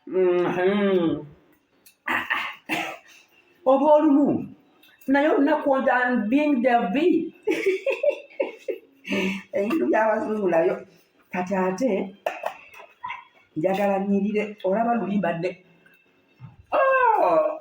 Mm-hmm. oba olumu naye olunaku being the b ebintu byabazungu nayo kati ate njagala nyirire olaba luli mbadde oh!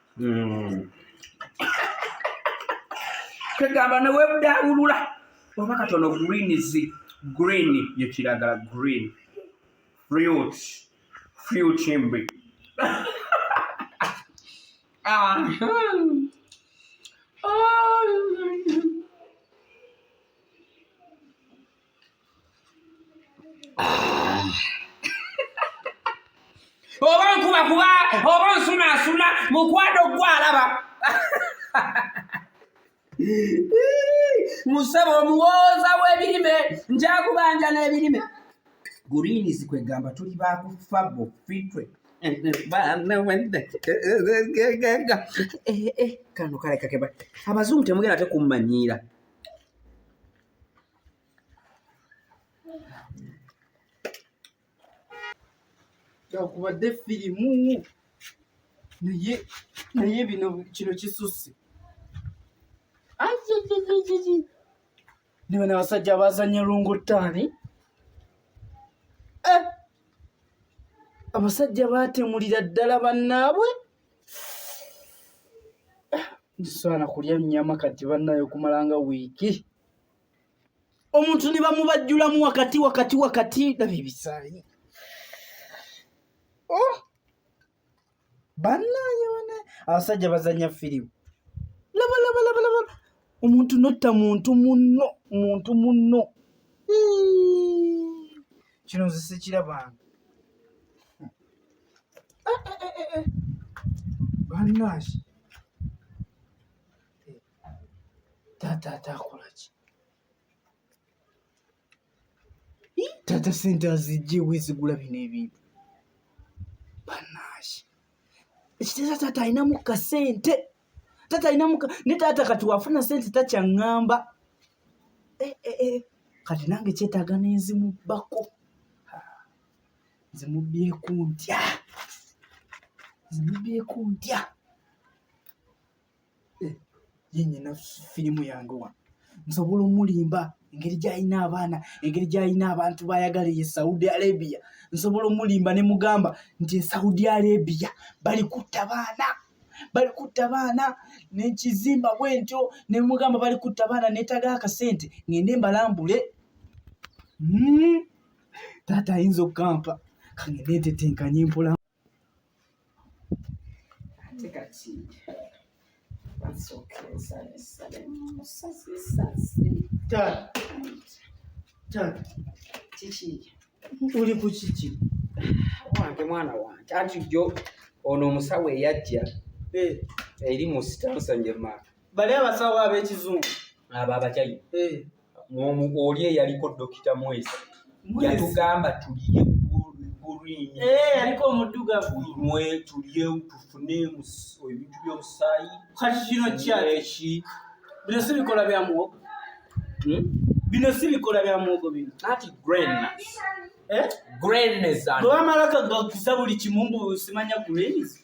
hmm. kegamba newebudawulula oba katono greens green yekiragala green fruit fruit mbi ah. oba nkuba kuba oba nsunaasuna mukwano gwalaba musaba omuwooza w'ebirime njakubanja n'ebirime guliinizi kwegamba tuli bakufa bufitwe kano kalekakeba abazungu temugenda tekummanyiira kubadde firimu naye naye bino kino kisusse ne bano abasajja abazanya lungottaani eh! abasajja baatemulira ddala bannaabwe nsaana kulya nnyama kati bannaye okumala nga wiiki omuntu ne bamubajjulamu wakati wakati wakati laba ebisaayi oh! bannaye bana abasajja bazanya firimu laba laba laba laba omuntu notta muntu munno muntu munno kino nze sikirabanga bannange taata ate akola ki taata sente azijjewo ezigula bino ebintu bannange ekiteeza taata alinamu kasente taata alinamu ne taata kati wafuna sente takyaŋŋamba eh, eh, eh. kati nange kyetaaga nenzimubbako zimubbyeko ntya zimubbyeko ntya eh, ye nyina firimu yange wa nsobola omulimba engeri gyalina abaana engeri gyalina abantu bayagala eye saudi arabia nsobola omulimba ne mugamba nti esaudi arabia bali kutta baana bali kutta baana nekizimba bwentyo ne mugamba bali kutta baana netaga akasente ngende mbalambule mm. taata ayinza okukampa kangende etetenkanye mpola ate kati uli ku kiki wange mwana wange anti jo ono omusawo eyajja eh. eri mu sitansa njema bali abasawo ab'ekizungu abo abakyayina eh. oli eyaliko dokita mwezi yatugamba tuliye gulinywe eh, tuliye tufune ebintu byomusaayi kati kino kyaki bino si bikola bya muwogo hmm? bino si bikola bya muwogo bino ati grenas eh? grenas bwebamalaka gakusa buli kimu mbu simanya grenas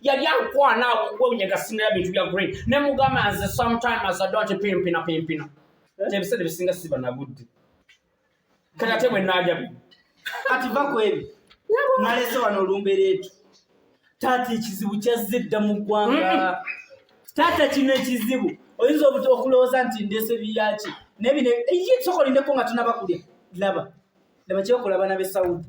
yali ankwana wewunya nga sinera bintu bya green ne mugamba nze sometime as i don't pimpina pimpina eh? ebiseera ebisinga siba nagudde kati ate bwe naaja bi kati va ku ebyo nalese wano olumbera etu taata ekizibu kyazze dda mu ggwanga taata kino ekizibu oyinza okulowooza nti ndese biyaki naye bino ye soka olindeko nga tunabakulya laba laba kyekola abana be saudi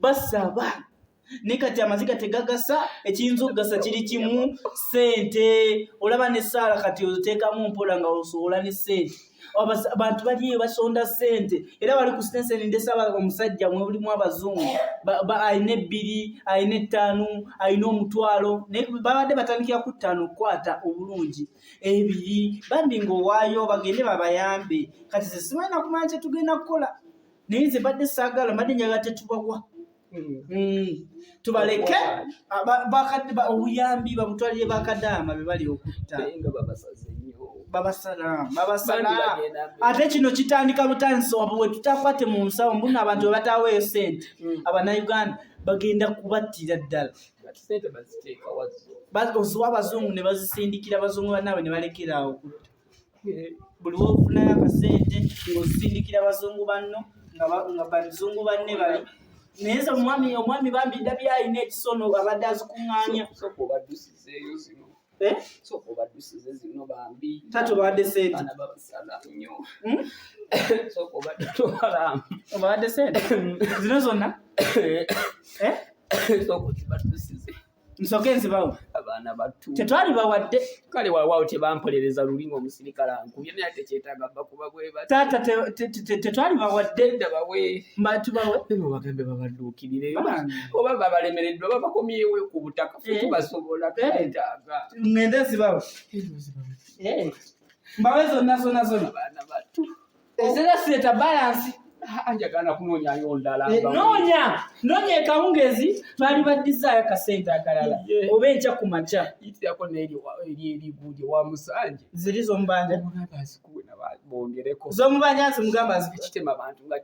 basaba ne kati amaziga tegagasa ekiyinza okugasa kiri kimu sente olaba ne saala kati oteekamu mpola nga osobola ne sente abantu baliyo basonda sente era bali ku sitenseni ndesaba omusajja mwebulimu abazungu alina ebbiri alina ettaanu alina omutwalo naye babadde batandikira ku ttaano okukwata obulungi ebiri bambi ngaowaayo bagende babayambe kati sesimanyi nakumanya kyetugenda kukola naye nze mbadde saagala mbadde njagala tetubawa hmm. Hmm. tubaleke obuyambi bamutwalire bakadaama be bali okutta ate kino kitandika butandisi wabwe wetutakwate mu nsawo mbuno abantu webataweyo sente hmm. abanauganda bagenda kubattira ddala oziwa abazungu ne bazisindikira abazungu bannaabwe ne balekera awo okutta buli wofunayo akasente ng'osindikira bazungu banno nga bazungu banne bali naye nze omwami omwami bambi ndabye alina ekisono abadde azikuŋŋaanya eh? tatobadde sente obadde sente zino zonna eh? nsoke nzibawo abaana batu tetwali bawadde kale wawawo tebampolereza luli ngaomusirikale ankubye naye tekyetaaga bakuba bweba taata tetwali bawadde dabawe mbatubawe bema bagambe babadduukirire oba babalemereddwa babakomyewe ku butaka fe eh. tubasobola tetaaga eh. ngende nzibawo eh, mbawe zonna zonna zonna abaana batu ezera sireta balansi ah, njagala kunoonyayo ndala eh, noonya noonya ekawungezi baali baddizaayo kasente akalala oba enkya ku makya itirako neeriguude wa musanje ziri zomubanja bongereko zomubanja nti mugamba zikitema bantu nga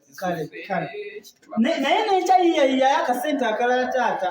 naye nenkya yiyayiyayo akasente akalala taata